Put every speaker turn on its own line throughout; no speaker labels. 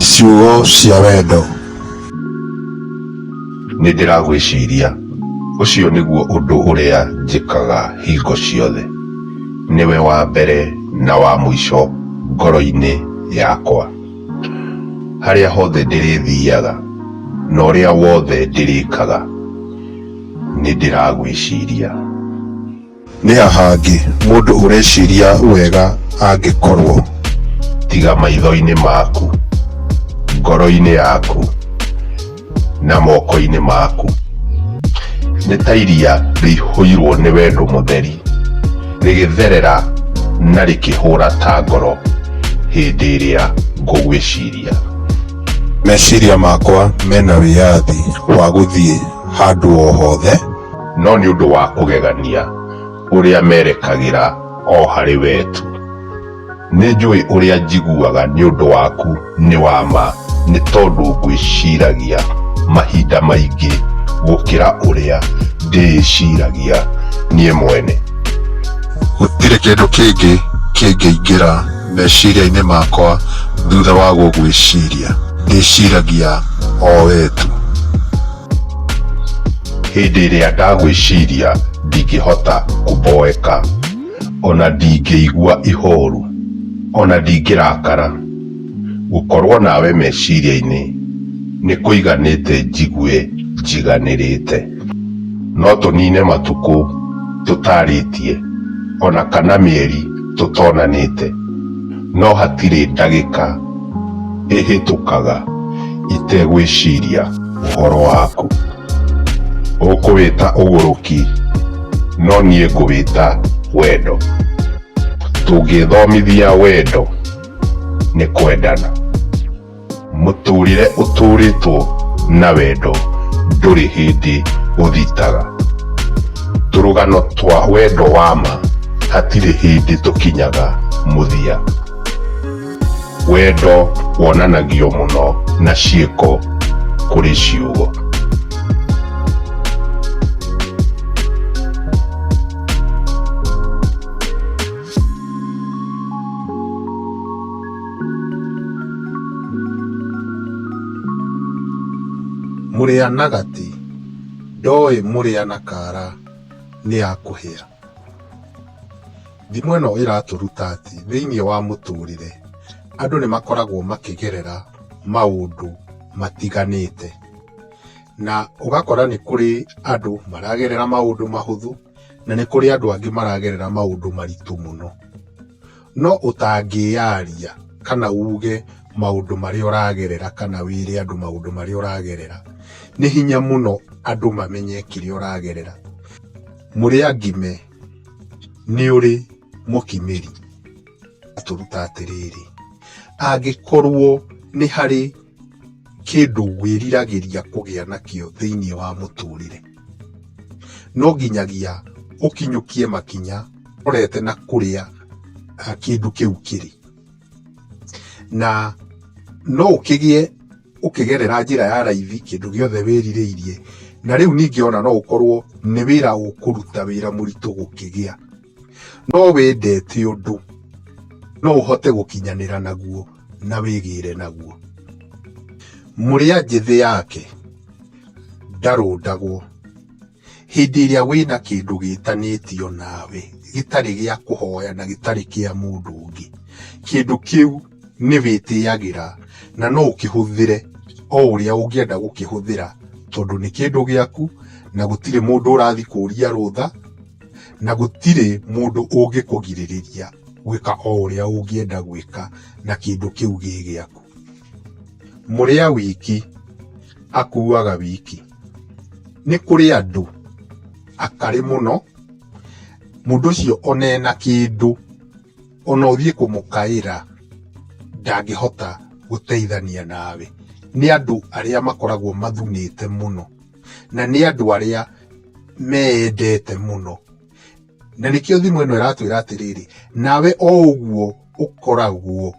Ciugo cia wendo. Nĩ ndĩragwĩciria. Ũcio nĩguo ũndũ ũrĩa njĩkaga hingo ciothe. Nĩwe wa mbere na wa mũico ngoro-inĩ yakwa. Harĩa hothe ndĩrĩthiaga na ũrĩa wothe ndĩrĩkaga, nĩ ndĩragwĩciria. Nĩ ha hangĩ mũndũ ũreciria wega angĩkorũo? Tiga maitho-inĩ maku, ngoro-inĩ yaku, na moko-inĩ maku. Nĩ ta iria rĩihũirũo nĩ wendo mũtheri, rĩgĩtherera na rĩkĩhũra ta ngoro hĩndĩ ĩrĩa ngũgwĩciria. Meciria makwa mena wĩyathi wa gũthiĩ handũ o hothe. no nĩ ũndũ wa ũgegania ũrĩa merekagĩra o harĩ we tu. Nĩ njũĩ ũrĩa njiguaga nĩ ũndũ waku nĩ wa ma nĩ tondũ ngwĩciragia mahinda maingĩ gũkĩra ũrĩa ndĩĩciragia niĩ mwene. Gũtirĩ kĩndũ kĩngĩ kĩngĩingĩra meciria-inĩ makwa thutha wa gũgwĩciria, ndĩciragia o we tu. Hĩndĩ ĩrĩa ndagwĩciria ndingĩhota kũmboeka, o na ndingĩigua ihooru, o na ndingĩrakara. Gũkorũo nawe meciria-inĩ nĩ kũiganĩte njigue njiganĩrĩte. No tũniine matukũ tũtaarĩtie, o na kana mĩeri tũtonanĩte. No hatirĩ ndagĩka ĩhĩtũkaga itegwĩciria ũhoro waku. Ũkũwĩta ũgũrũki, no niĩ ngũwĩta wendo. Tũngĩĩthomithia wendo nĩ kwendana. mũtũrĩre ũtũrĩtwo na wendo ndũrĩ hĩndĩ ũthitaga tũrũgano twa wendo wa ma hatirĩ hĩndĩ tũkinyaga mũthia wendo wonanagio mũno na ciĩko kũrĩ ciugo Mũrĩa na gatĩ, ndoĩ mũrĩa na kara nĩ ya kũhĩa. Thimo ĩno ĩratũruta atĩ thĩinĩ wa mũtũrĩre, andũ nĩ makoragwo makĩgerera maũndũ matiganĩte. Na ũgakora nĩ kũrĩ andũ maragerera maũndũ mahũthũ, na nĩ kũrĩ andũ angĩ maragerera maũndũ maritũ mũno. No ũtangĩyaria kana uge maũndũ marĩa ũragerera kana wĩre andũ maũndũ marĩa ũragerera, nĩ hinya mũno andũ mamenye kĩrĩa ũragerera. Mũrĩa ngime nĩ ũrĩ mũkimĩri atũruta atĩrĩrĩ, angĩkorwo nĩ harĩ... kĩndũ wĩriragĩria kũgĩa nakĩo thĩinĩ wa mũtũrĩre, no nginyagia ũkinyũkie makinya ũrorete na kũrĩa kĩndũ kĩu kĩrĩ. Na no ũkĩgĩe ũkĩgerera njĩra ya raithi kĩndũ gĩothe wĩrirĩirie, na rĩu ningĩ ona no ũkorwo nĩ wĩra ũkũruta wĩra mũritũ gũkĩgĩa. no wendete ũndũ no ũhote gũkinyanĩra naguo na wĩgĩre naguo mũrĩa njĩthĩ yake ndarũndagwo hĩndĩ ĩrĩa wĩna kĩndũ gĩtanĩtio nawe gĩtarĩ gĩa kũhoya na gĩtarĩ kĩa mũndũ ũngĩ kĩndũ kĩu nĩ wĩtĩagĩra na no ũkĩhũthĩre o ũrĩa ũngĩenda gũkĩhũthĩra tondũ nĩ kĩndũ gĩaku na gũtirĩ mũndũ ũrathiĩ kũria rũtha na gũtirĩ mũndũ ũngĩkũgirĩrĩria gwĩka o ũrĩa ũngĩenda gwĩka na kĩndũ kĩu gĩ gĩaku. Mũrĩa wiki akuaga wiki. Nĩ kũrĩ andũ akarĩ mũno, mũndũ ũcio ona ena kĩndũ ona ũthiĩ kũmũkaĩra ndangĩhota gũteithania nawe. Nĩ andũ arĩa makoragwo mathunĩte mũno na nĩ andũ arĩa meendete mũno na nĩkĩo thimũ ĩno ĩratwĩra atĩrĩrĩ nawe o ũguo ũkoragwo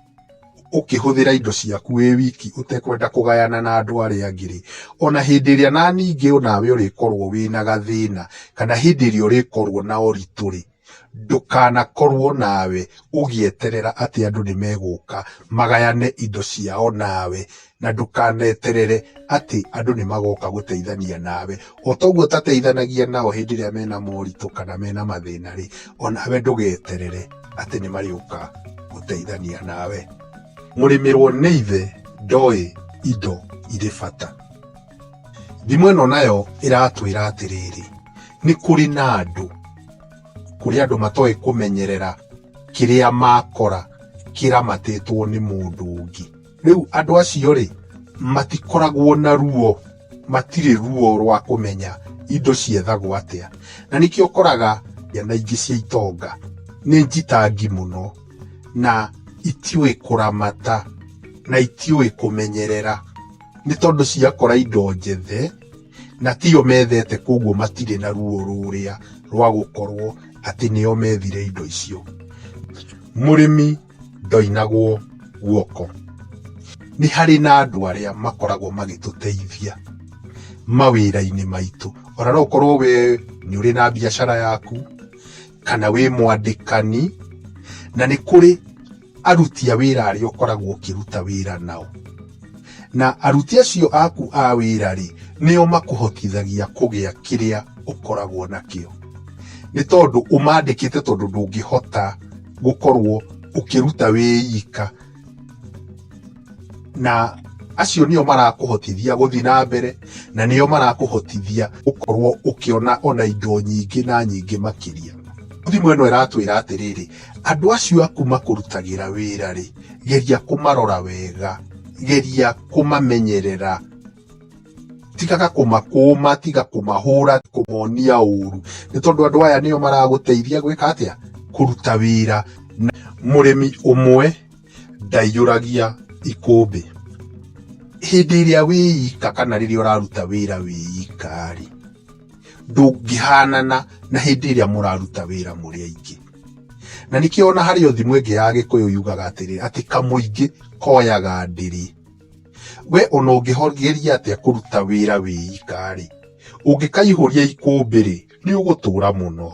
ũkĩhũthĩra indo ciaku wĩ wiki ũtekwenda kũgayana na andũ arĩa angĩ rĩ ona hĩndĩ ĩrĩa na ningĩ onawe ũrĩkorwo wĩna gathĩna kana hĩndĩ ĩrĩa ũrĩkorwo na ũritũ rĩ Ndũkanakorwo nawe ũgĩeterera atĩ andũ nĩ megũka magayane indo ciao nawe, na ndũkaneterere atĩ andũ nĩ magoka gũteithania nawe. O ta ũguo ũtateithanagia nao hĩndĩ ĩrĩa mena moritũ kana mena mathĩna rĩ, o nawe ndũgeterere atĩ nĩ marĩũka gũteithania nawe. Mũrĩmĩrwo nĩ Ithe ndoĩ indo irĩ bata. Thimo ĩno nayo ĩratwĩra atĩrĩrĩ, nĩ kũrĩ na andũ, kũrĩ andũ matoĩ kũmenyerera kĩrĩa makora kĩramatĩtwo nĩ mũndũ ũngĩ. Rĩu andũ acio rĩ, matikoragwo na ruo, matirĩ ruo rwa kũmenya indo ciethagwo atĩa. Na nĩkĩo ũkoraga ciana ingĩ cia itonga nĩ njitangi mũno, na itiũĩ kũramata, na itiũĩ kũmenyerera. nĩ tondũ ciakora indo njethe na tiyo methete koguo matirĩ na ruo rũrĩa rwa gũkorwo atĩ nĩo methire indo icio mũrĩmi ndoinagwo guoko nĩ harĩ na andũ arĩa makoragwo magĩtũteithia mawĩra-inĩ maitũ ona no ũkorwo we nĩ ũrĩ na biacara yaku kana wĩ mwandĩkani na nĩ kũrĩ aruti a wĩra arĩa ũkoragwo ũkĩruta wĩra nao na aruti acio aku a wĩra rĩ nĩo makũhotithagia kũgĩa kĩrĩa ũkoragwo nakĩo nĩ tondũ ũmandĩkĩte tondũ ndũngĩhota gũkorwo ũkĩruta wĩ ika na acio nĩo marakũhotithia gũthiĩ na mbere na nĩo marakũhotithia gũkorwo ũkĩona ona indo nyingĩ na nyingĩ makĩria thimũ ĩno ĩratwĩra atĩrĩrĩ andũ acio aku makũrutagĩra wĩra rĩ geria kũmarora wega geria kũmamenyerera tigaga kũmakũma tiga kũmahũra kũmonia ũru nĩ tondũ andũ aya nĩo maragũteithia gwĩka atĩa kũruta wĩra mũrĩmi ũmwe ndaiyũragia ikũmbĩ. Hĩndĩ ĩrĩa wĩika kana rĩrĩa ũraruta wĩra wĩika-rĩ, ndũngĩhanana na hĩndĩ ĩrĩa mũraruta wĩra mũrĩ aingĩ. Na nĩkĩo ona harĩ o thimũ ĩngĩ ya Gĩkũyũ yugaga atĩrĩ, atĩ kamũingĩ koyaga ndĩrĩ. We ona ũngĩgeria atĩa kũruta wĩra wĩika-rĩ, ũngĩkaihũria ikũmbĩ-rĩ, nĩũgũtũra mũno.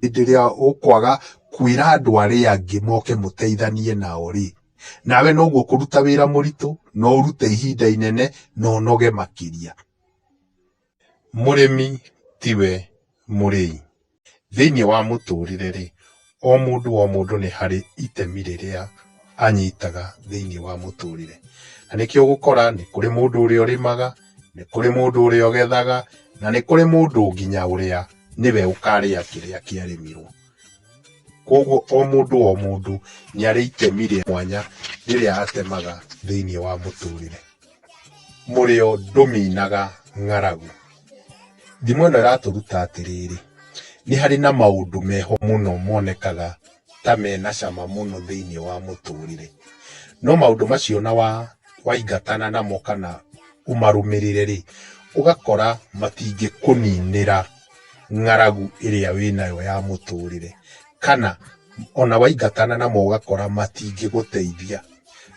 Hĩndĩ ĩrĩa ũkwaga kwĩra andũ arĩa angĩ moke mũteithanie nao-rĩ, nawe noguo ũkũruta wĩra mũritũ, no ũrute ihinda inene, na ũnoge makĩria. Mũrĩmi tiwe mũrĩi. Thĩiniĩ wa mũtũrĩre-rĩ, o mũndũ o mũndũ nĩ harĩ itemi rĩrĩa anyitaga thĩiniĩ wa mũtũrĩre. Na nĩkĩo ũgũkora nĩ kũrĩ mũndũ ũrĩa ũrĩmaga. Nĩ kũrĩ mũndũ ũrĩa ũgethaga, na nĩ kũrĩ mũndũ nginya ũrĩa nĩwe ũkarĩa kĩrĩa kĩarĩmirwo. Koguo o mũndũ o mũndũ nĩ arĩ itemi rĩa mwanya rĩrĩa atemaga thĩinĩ wa mũtũrĩre. Mũrĩo ndũminaga ng'aragu. Thimo ĩno ĩratũruta atĩrĩrĩ, nĩ harĩ na maũndũ meho mũno monekaga. ta me na cama mũno thĩinĩ wa mũtũrĩre. No maũndũ macio na wa waingatana namo kana ũmarũmĩrĩre rĩ, ũgakora matingĩkũninĩra ng'aragu ĩrĩa wĩ nayo ya mũtũrĩre. Kana ona waingatana namo ũgakora matingĩgũteithia,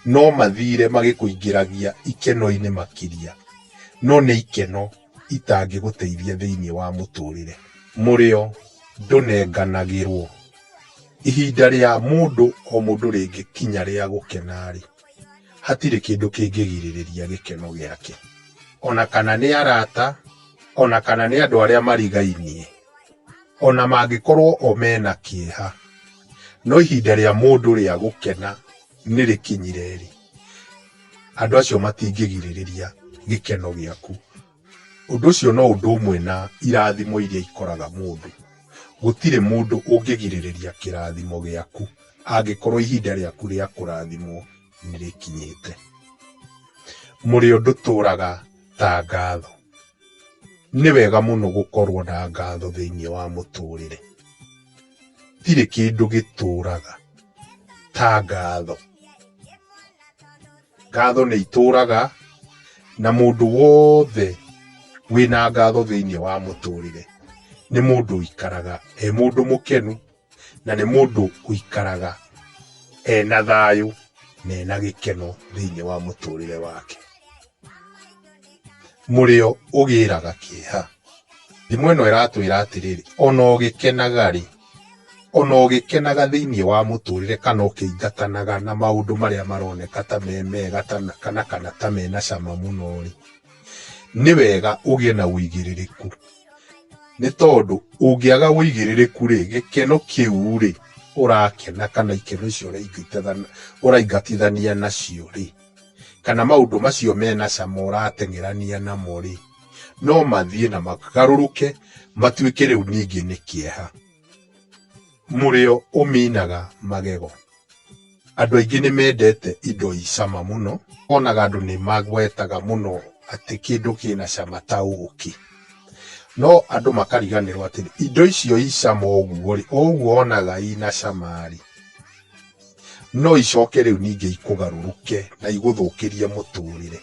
no mathire magĩkũingĩragia ikeno-inĩ makĩria, no nĩ ikeno. itangĩgũteithia thĩinĩ wa mũtũrĩre. Mũrĩo ndũnenganagĩrwo. Ihinda rĩa mũndũ o mũndũ rĩngĩkinya rĩa gũkena-rĩ, hatirĩ kĩndũ kĩngĩgirĩrĩria gĩkeno gĩake. Ona kana nĩ arata, ona kana nĩ andũ arĩa marigainie, ona mangĩkorwo o mena kĩeha, no ihinda rĩa mũndũ rĩa gũkena. nĩ rĩkinyire-rĩ, andũ acio matingĩgirĩrĩria gĩkeno gĩaku. Ũndũ ũcio no ũndũ ũmwe na irathimo iria ikoraga mũndũ. Gũtirĩ mũndũ ũngĩgirĩrĩria kĩrathimo gĩaku angĩkorwo ihinda rĩaku rĩa kũrathimwo nĩ rĩkinyĩte. Mũrĩo ndũtũraga ta ngatho. Nĩ wega mũno gũkorwo na ngatho thĩinĩ wa mũtũrĩre. Gũtirĩ kĩndũ gĩtũũraga ta ngatho. Ngatho nĩ itũũraga, na mũndũ wothe wĩna ngatho thĩinĩ wa mũtũrĩre nĩ mũndũ ũikaraga e mũndũ mũkenu, na nĩ mũndũ ũikaraga ena thayũ na ena gĩkeno thĩinĩ wa mũtũrĩre wake. mũrĩo ũgĩraga kĩeha. Thimo ĩno ĩratwĩra atĩrĩrĩ, ona ũgĩkenaga-rĩ, ona ũgĩkenaga thĩiniĩ wa mũtũrĩre kana ũkĩingatanaga na maũndũ marĩa maroneka ta me mega kana kana ta mena cama mũno-rĩ, nĩ wega ũgĩe na ũigĩrĩrĩku. Nĩ tondũ ũngĩaga ũigĩrĩrĩku-rĩ, gĩkeno kĩu-rĩ ũrakena kana ikeno icio ũraingatithania nacio-rĩ. kana maũndũ macio mena cama ũrateng'erania namo-rĩ, no mathiĩ na magarũrũke matuĩke rĩu ningĩ nĩ kĩeha. Mũrĩo ũminaga magego. Andũ aingĩ nĩ mendete indo i cama mũno, wonaga andũ nĩ magwetaga mũno atĩ kĩndũ kĩna cama ta ũkĩ. No andũ makariganĩrwo atĩrĩ, indo icio i cama ũguo-rĩ, o ũguo wonaga ina cama-rĩ, no icoke rĩu ningĩ ikũgarũrũke na igũthũkĩrie mũtũrĩre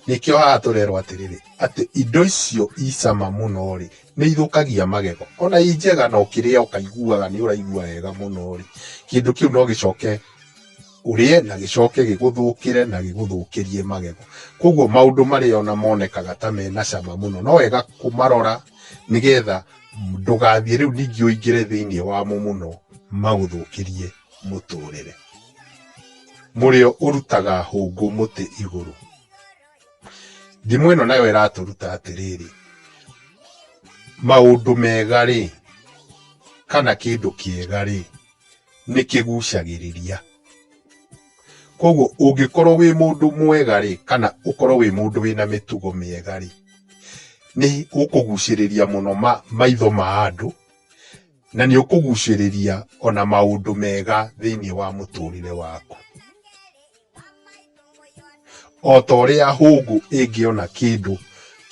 nĩkĩo haha tũrerwo atĩrĩrĩ atĩ indo icio icama mũno rĩ nĩ ithũkagia magego ona i njega na ũkĩrĩa ũkaiguaga nĩ ũraigua wega mũno rĩ kĩndũ kĩu no gĩcoke ũrĩe na gĩcoke gĩgũthũkĩre na gĩgũthũkĩrie magego koguo maũndũ marĩa ona monekaga ta mena cama mũno no wega kũmarora nĩgetha ndũgathiĩ rĩu ningĩ ũingĩre thĩinĩ wamo mũno magũthũkĩrie mũtũrĩre mũrĩo ũrutaga hũngũ mũtĩ igũrũ ndimũ ĩno nayo ĩratũruta atĩrĩrĩ maũndũ mega rĩ kana kĩndũ kĩega rĩ nĩ kĩgucagĩrĩria Koguo ũngĩkorwo wĩ mũndũ mwega rĩ, kana ũkorwo wĩ mũndũ wĩna mĩtugo mĩega rĩ, nĩ ũkũgucĩrĩria mũno maitho ma andũ, na nĩ ũkũgucĩrĩria ona maũndũ mega thĩiniĩ wa mũtũrĩre waku. O ta ũrĩa hũngũ ĩngĩona kĩndũ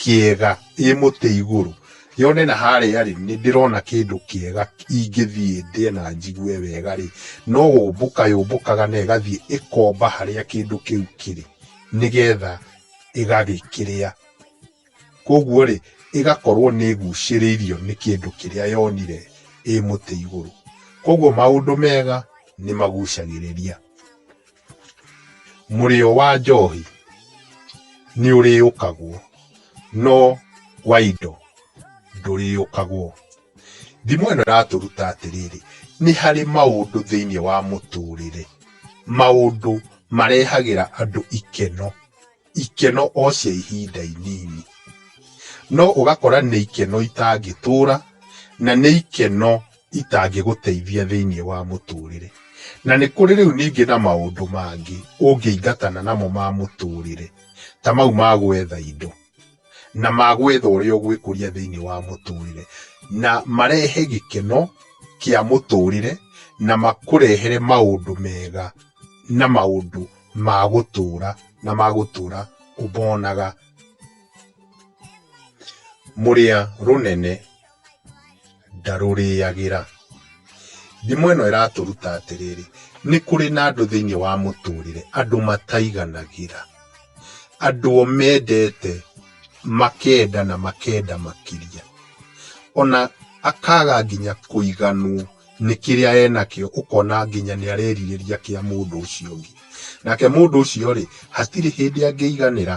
kĩega ĩ mũtĩ igũrũ, yone na harĩa rĩ, nĩ ndĩrona kĩndũ kĩega ingĩthiĩ ndĩe na njigue wega rĩ, no gũmbũka yũmbũkaga na ĩgathiĩ ĩkomba harĩa kĩndũ kĩu kĩrĩ, nĩgetha ĩgagĩkĩrĩa. Kũguo rĩ, ĩgakorwo nĩ ĩgucĩrĩirio nĩ kĩndũ kĩrĩa yonire ĩ mũtĩ igũrũ. Kũguo maũndũ mega nĩ magucagĩrĩria. mũrĩo wa njohi nĩ ũrĩũkagwo no wa indo ndũrĩũkagwo. Thimo ĩno ĩratũruta atĩrĩrĩ, nĩ harĩ maũndũ thĩinĩ wa mũtũrĩre, maũndũ marehagĩra andũ ikeno. ikeno o cia ihinda inini no ũgakora nĩ ikeno itangĩtũra na nĩ ikeno itangĩgũteithia thĩinĩ wa mũtũrĩre. Na nĩ kũrĩ rĩu ningĩ na maũndũ mangĩ ũngĩingatana namo ma mũtũrĩre ta mau ma gwetha indo. na magwetha ũrĩa ũgwĩkũria thĩinĩ wa mũtũrĩre na marehe gĩkeno kĩa mũtũrĩre na makũrehere maũndũ mega na maũndũ ma gũtũra na magũtũra ũmonaga mũrĩa rũnene ndarũrĩagĩra. Thimo ĩno ĩratũruta atĩrĩrĩ, nĩ kũrĩ na andũ thĩinĩ wa mũtũrĩre andũ mataiganagĩra, andũ o mendete makenda na makenda makĩria, ona akaga nginya kũiganwo nĩ kĩrĩa enakĩo, ũkona nginya nĩ arerirĩria kĩa mũndũ ũcio ũngĩ. Nake mũndũ ũcio rĩ, hatirĩ hĩndĩ angĩiganĩra.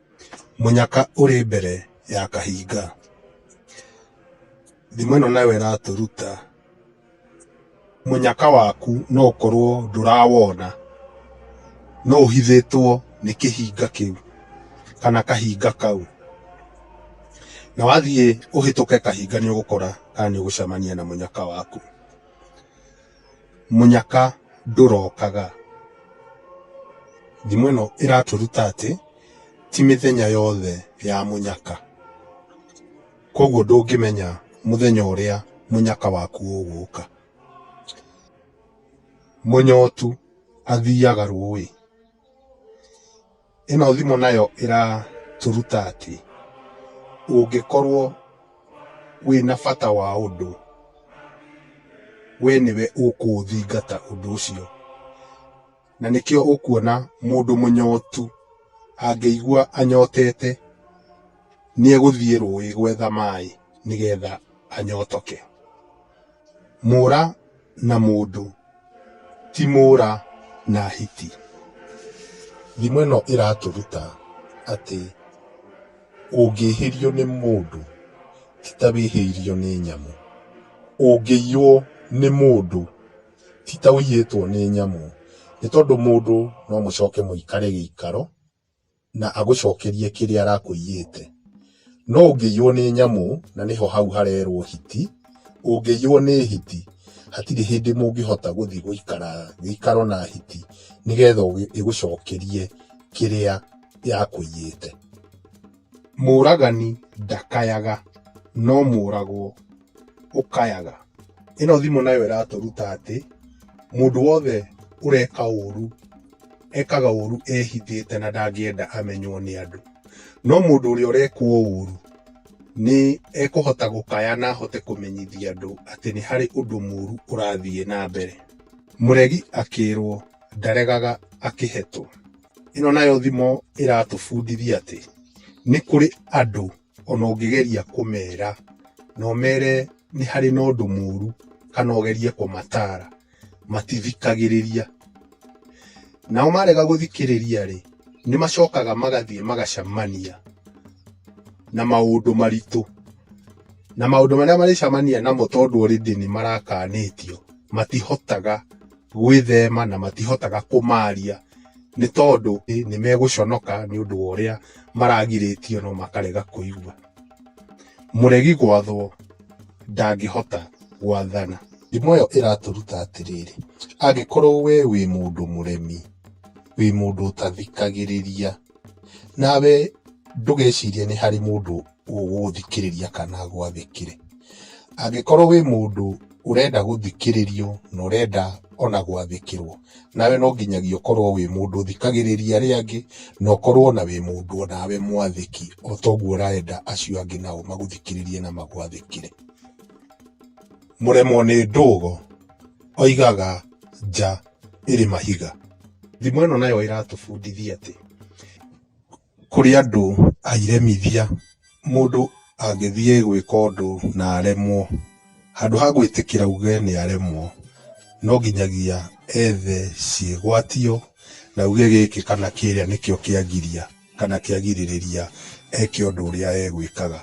Mũnyaka ũrĩ mbere ya kahinga. Thimo ĩno nayo ĩratũruta mũnyaka waku no ũkorwo ndũrawona, no ũhithĩtwo nĩ kĩhinga kĩu kana kahinga kau. Na wathiĩ ũhĩtũke kahinga nĩ ũgũkora kana nĩ ũgũcemania na mũnyaka waku. mũnyaka ndũrokaga. Thimo ĩno ĩratũruta atĩ ti mĩthenya yothe ya mũnyaka. Koguo ndũngĩmenya mũthenya ũrĩa mũnyaka waku ũgũka. Mũnyotu athiaga rũĩ. Ĩno thimo nayo ĩratũruta atĩ ũngĩkorwo wĩna bata wa ũndũ, we nĩwe ũkũũthingata ũndũ ũcio. Na nĩkĩo ũkuona mũndũ mũnyotu angĩigua anyotete nĩegũthiĩ rũĩ gwetha maĩ nĩgetha anyotoke. Mũra na mũndũ ti mũra na hiti. Thimo ĩno ĩratũruta atĩ ũngĩhĩrio nĩ mũndũ ti ta wĩhĩirio nĩ nyamũ, ũngĩiywo nĩ mũndũ ti ta ũiyĩtwo nĩ nyamũ, nĩ tondũ mũndũ no mũcoke mũikare gĩikaro. na agũcokerie kĩrĩa arakũiyĩte. No ũngĩiywo nĩ nyamũ, na nĩho hau harerwo hiti, ũngĩiywo nĩ hiti, hatirĩ hĩndĩ mũngĩhota gũthiĩ gũikara gĩikaro na hiti nĩgetha ĩgũcokerie kĩrĩa yakũiyĩte. Mũũragani ndakayaga, no mũũragwo ũkayaga. Ĩno thimũ nayo ĩratũruta atĩ mũndũ wothe ũreka ũru ekaga ũru ehithĩte na ndangĩenda amenywo nĩ andũ. No mũndũ ũrĩa ũrekwo ũru nĩ ekũhota gũkaya na ahote kũmenyithia andũ atĩ nĩ harĩ ũndũ mũru ũrathiĩ na mbere. Mũregi akĩrwo ndaregaga akĩhetwo. Ĩno nayo thimũ ĩratũbundithia atĩ nĩ kũrĩ andũ ona ũngĩgeria kũmera na ũmere nĩ harĩ na ũndũ mũru kana ũgerie kũmatara matithikagĩrĩria. Nao marega gũthikĩrĩria rĩ, nĩ macokaga magathiĩ magacemania na maũndũ maritũ. Na maũndũ marĩa marĩcemania namo tondũ already nĩ marakanĩtio matihotaga. gwĩthema na matihotaga kũmaria nĩ tondũ nĩ megũconoka nĩ ũndũ wa ũrĩa maragirĩtio no makarega kũigua. Mũregi gwathwo ndangĩhota gwathana. Thimo ĩyo ĩratũruta atĩrĩrĩ, angĩkorwo we wĩ mũndũ mũremi, wĩ mũndũ ũtathikagĩrĩria, nawe ndũgecirie nĩ harĩ mũndũ ũgũthikĩrĩria kana agwathĩkĩre angĩkorwo wĩ mũndũ ũrenda gũthikĩrĩrio na ũrenda ona gwathĩkĩrwo nawe no nginyagia ũkorwo wĩ mũndũ ũthikagĩrĩria arĩa angĩ na ũkorwo na wĩ mũndũ onawe mwathĩki o toguo ũrenda acio angĩ nao magũthikĩrĩrie na magwathĩkĩre mũremwo nĩ ndũgo oigaga nja ĩrĩ mahiga. Thimo ĩno nayo ĩratũbundithia atĩ, kũrĩ andũ airemithia, mũndũ angĩthiĩ gwĩka ũndũ na aremwo, handũ ha gwĩtĩkĩra auge nĩ aremwo, no nginyagia ethe ciĩgwatio, na auge gĩkĩ kana kĩrĩa nĩkĩo kĩangiria. kana kĩagirĩrĩria eke ũndũ ũrĩa egwĩkaga.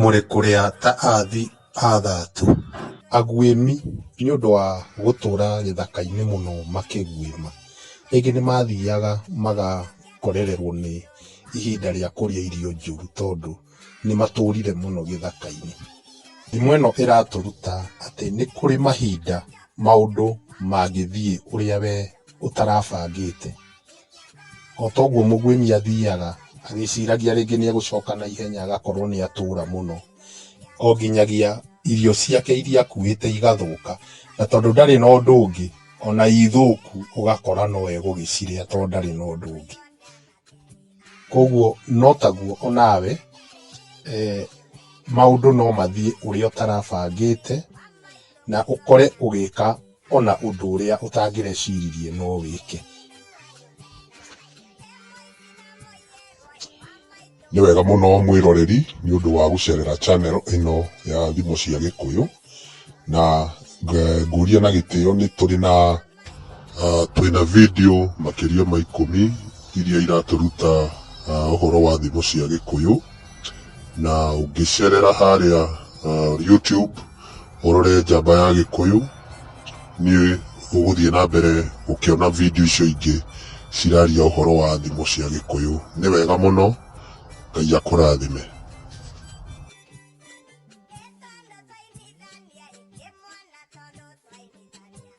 Mũrĩ kũrĩa ta athi athatũ. Aguĩmi nĩ ũndũ wa gũtũũra gĩthaka-inĩ mũno makĩguĩma. Rĩngĩ nĩ mathiaga magakorererwo nĩ ihinda rĩa kũrĩa irio njũru tondũ nĩ matũũrire mũno gĩthaka-inĩ. Thimo ĩno ĩratũruta atĩ nĩ kũrĩ mahinda maũndũ mangĩthiĩ ũrĩa we ũtarabangĩte. O ta ũguo mũgwĩmi athiaga agĩciragia rĩngĩ nĩ egũcoka na ihenya agakorwo nĩ atũũra mũno, o nginyagia irio ciake iria akuĩte igathũka. Na tondũ ndarĩ na ũndũ ũngĩ, o na i thũku ũgakora no egũgĩcirĩa to ndarĩ na ũndũ ũngĩ. Kũguo no taguo o nawe maũndũ no mathiĩ ũrĩa ũtarabangĩte. na ũkore ũgĩka ona ũndũ ũrĩa ũtangĩreciririe no wĩke. Nĩ wega mũno mwĩroreri nĩ ũndũ wa gũcerera channel ĩno ya Thimo cia Gĩkũyũ, na ngũria na gĩtĩo nĩ tũrĩ na Ah, twĩna video makĩria ma ikũmi iria iratũruta ah, ũhoro wa thimo cia gĩkũyũ na ũngĩcerera harĩa ah, youtube ũrore njamba ya gĩkũyũ nĩ ũgũthiĩ na mbere gũkĩona video icio ingĩ ciraria ũhoro wa thimo cia gĩkũyũ nĩ wega mũno ngai akũrathime